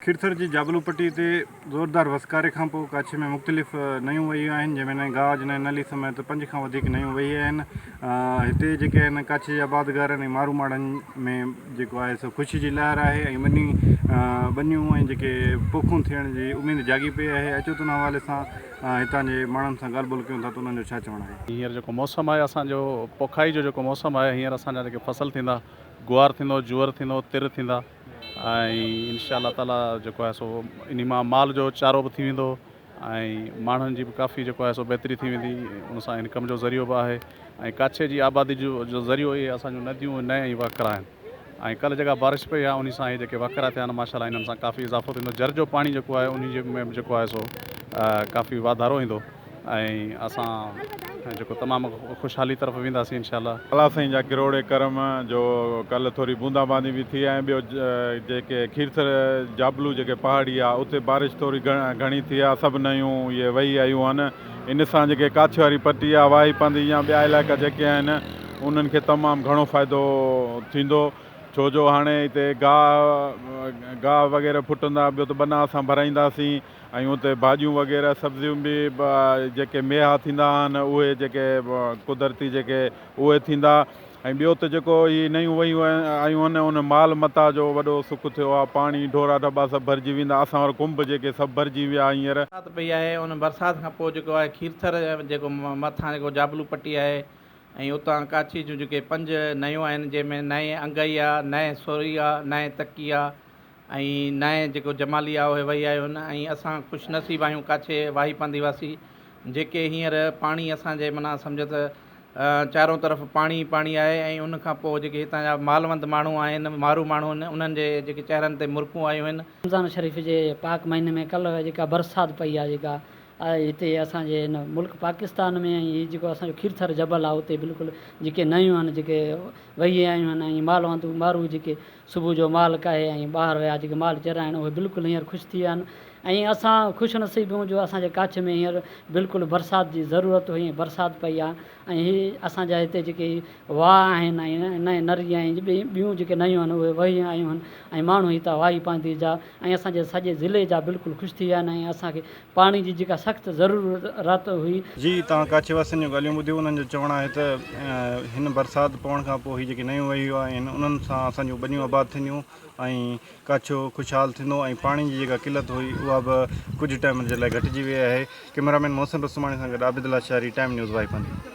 کيرٿر جي جابلو پٽي تي زوردار وسڪاري کان پوء ڪاڇي ۾ مختلف نيون وهيون آهن جنهن ۾ نئين گاج، نئين نلي سميت پنج کان وڌيڪ نيون وهي آهن. هتي جيڪي آهن ڪاڇي جي آبادگارن ۽ مارو ماڙهن ۾ جيڪو آهي سو خوشي جي لهر آهي ۽ ٻني ٻنيون ۽ جيڪي پوکون ٿيڻ جي اميد جاڳي پئي آهي. اچو ته ان حوالي سان هتان جي ماڻهن سان ڳالهه ٻولهه ڪيون ٿا ته انهن جو ڇا چوڻ آهي. هينئر جيڪو موسم آهي اسان جو پوکائي جو جيڪو موسم آهي هينئر اسان جا جيڪي فصل ٿيندا گوار ٿيندو، جوئر ٿيندو، تر ٿيندا. ۽ ان شاء الله تعاليٰ جيڪو آهي سو انهي مان مال جو چارو به ٿي ويندو ۽ ماڻهن جي به ڪافي جيڪو آهي سو بهتري ٿي ويندي ان سان انڪم جو ذريعو به آهي ۽ ڪاڇي جي آبادي جو ذريعو اهي اسان جون نديون نئين ۽ وهڪرا آهن ۽ ڪلهه جيڪا بارش پئي آهي انهي سان اهي جيڪي وهڪرا ٿيا آهن ماشاء الله انهن سان ڪافي اضافو ٿيندو جر جو پاڻي جيڪو آهي انهي جي ۾ به جيڪو آهي سو ڪافي واڌارو ايندو ۽ اسان جيڪو تمام خوشحالي طرف وينداسين انشاء الله. الله سائين جا ڪروڙي ڪرم جو ڪلهه ٿوري بوندا باندي به ٿي ۽ ٻيو جيڪي کيرٿر جابلو جيڪي پهاڙي آ اتي بارش ٿوري گهڻي ٿي آ سڀ نيون اهي وهي آيون آهن ان سان جيڪي ڪاڇي واري پٽي آ واهي پنڌ يا ٻيا علائقا جيڪي آهن انهن کي تمام گهڻو فائدو ٿيندو ڇو جو هاڻي اتي گاهه گاهه وغيره ڦٽندا ٻيو ته ٻنا اسان ڀرائينداسين ۽ اتي ڀاڄيون وغيره سبزيون به جيڪي ميها ٿيندا آهن اهي جيڪي قدرتي جيڪي اهي ٿيندا ۽ ٻيو ته جيڪو هي نيون ويون آيون آهن ان مال متاع جو وڏو سک ٿيو آهي پاڻي ڍورا ڍبا سڀ ڀرجي ويندا اسان وٽ ڪنب جيڪي سڀ ڀرجي ويا هينئر. برسات پئي آهي ان برسات کان پوء جيڪو آهي کيرٿر جيڪو مٿان جيڪو جابلو پٽي آهي ۽ اتان ڪاڇي جون جيڪي پنج نيون آهن جنهن ۾ نئين انگئي آهي نئين سوري آهي نئين تڪي آهي ۽ نائين جيڪو جمالي آء وهي آيو هن ۽ اسان خوش نصيب آهيون ڪاڇي واهي پانڌي واسي جيڪي هينئر پاڻي اسان جي معنيٰ سمجهه ته چارون طرف پاڻي ئي پاڻي آهي ۽ ان کان پوء جيڪي هتان جا مالوند ماڻهو آهن مارو ماڻهو آهن انهن جي جيڪي چهرن تي مرڪون آيون آهن. رمضان شريف جي پاڪ مهيني ۾ ڪلهه جيڪا برسات پئي آهي جيڪا هتي اسان جي هن ملڪ پاڪستان ۾ ۽ هي جيڪو اسان جو کيرٿر جبل آهي اتي بلڪل جيڪي نيون آهن جيڪي وهي آيون آهن ۽ مالوند مارو جيڪي صبح جو مال ڪاهي ۽ ٻاهر ويا جيڪي مال چرائڻ اهي بلڪل هينئر خوش ٿي ويا آهن ۽ اسان خوش نصيب آهيون جو اسان جي ڪاڇ ۾ هينئر بلڪل برسات جي ضرورت هئي ۽ برسات پئي آهي ۽ هي اسان جا هتي جيڪي واهه آهن ۽ نري ۽ ٻيون جيڪي نيون آهن اهي وهي آيون آهن ۽ ماڻهو هتان واهي پانڌي جا ۽ اسان جي سڄي ضلعي جا بلڪل خوش ٿي ويا آهن ۽ اسان کي پاڻي جي جيڪا سخت ضرورت هئي. جي توهان ڪاڇي واسين جون ڳالهيون ٻڌيون انهن جو چوڻ آهي ته هن برسات پوڻ کان پوء هي جيڪي نيون وهيون آهن انهن سان اسان جون ٻنيون آباد ٿينديون ۽ ڪاڇو خوشحال ٿيندو ۽ پاڻي جي جيڪا قلت هئي اها به ڪجهه ٽائيم جي لاء گهٽجي وئي آهي ڪئميرا مين محسن رسوماڻي سان گڏ عابد لاشاري ٽائيم نيوز وائپن.